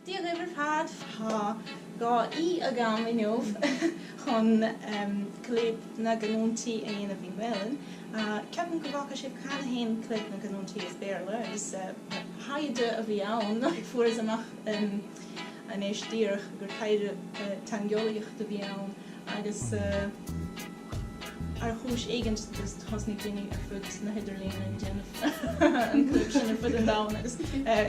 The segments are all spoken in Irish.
Dia dhaoibh ar fad! Tá dhá aoi agam inniu chun Clib na gCanúintí a dhéanamh i nGaelainn. Ceapaim go bhfeaca sibh cheana féin Clib na gCanúintí as Béarla agus taighde a bhí ann, fuaireas amach anois díreach gur taighde teangeolaíochta a bhí ann agus. Ar chúis éigint, thosnaigh daoine ar fud na hidirlíne ag déanamh an chlib sin ar fud an domhain agus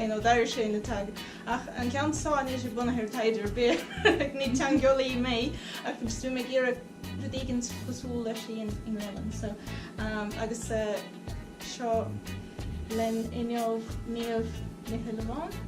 you know d'éirigh sé ina tag. Ach an ceann seo níl sé bunaithe ar taighde ar bith, ní teangeolaí mé ach bhíos ag iarraidh rud éigint cosúil leis i nGaelainn. So umm agus eh seo linn inniu Niamh Ní Shuilleabháin.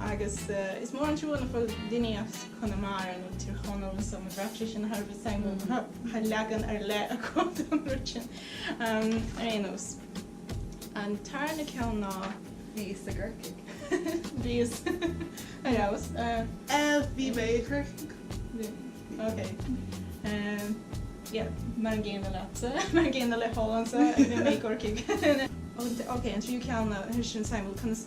agus is mór an trua nach bhfuil duine as Conamara nó Tír Chonaill nó sa Mhúscraí, sé sin Harvard Simon, nach bhfuil leagan ar leith acu don rud sin. Ar aon nós, an tarna ceann ná. Bhíos i gCorcaigh. Bhíos. Ar fheabhas. Bhí mé i gCorcaigh. Ok. Yeah, mar an gcéanna leatsa, mar an gcéanna le hEoin sa, bhí mé i gCorcaigh. Ok, an tríú ceann ná, sé sin Simon, conas.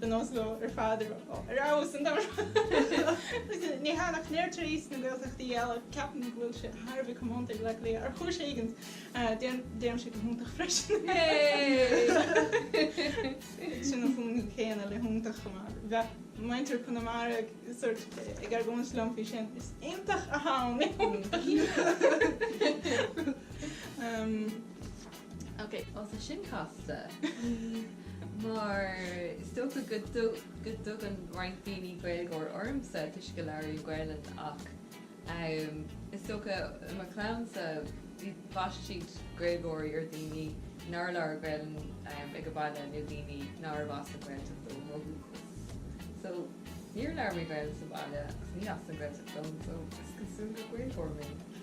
ba nós leo ar fad a raibh ar fheabhas an domhain. Ní hiontach. Ach tar éis na Gaeltachtaí eile, ceapaim go bhfuil sé thar a bheith comónta ag lucht léinn, ar chúis éigint, deirimse go hiontach freisin. Sin an fhuaim chéanna le hiontach chomh maith. Bheadh muintir Chonamara ag argóint liom faoi sin, is iontach a ham le hiontach! Ok, bhuel tá sin casta, mar is dócha go dtugann roinnt daoine Gaeilgeoir ormsa toisc go labhraím Gaelainn ach is dócha i mo chlann-sa bhaistidís Gaeilgeoirí ar dhaoine nár labhair Gaelainn aige baile nó daoine nárbh as an Ghaeltacht dóibh ó dhúchas. So, níor labhair mé Gaelainn sa bhaile agus ní as an Ghaeltacht dom, so is cosúil gur Gaeilgeoir mé.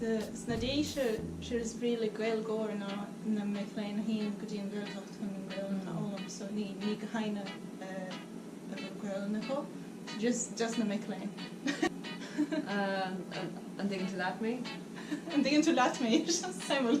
Sna Déise, sé is brí le Gaeilgeoir ná na mic léinn a théann go dtí an Ghaeltacht chun an Ghaelainn a fhoghlaim, so ní gach éinne a bhfuil Gaelainn acu, just na mic léinn. An dtuigeann tú leat mé? An dtuigeann tú leat mé? Suimiúil.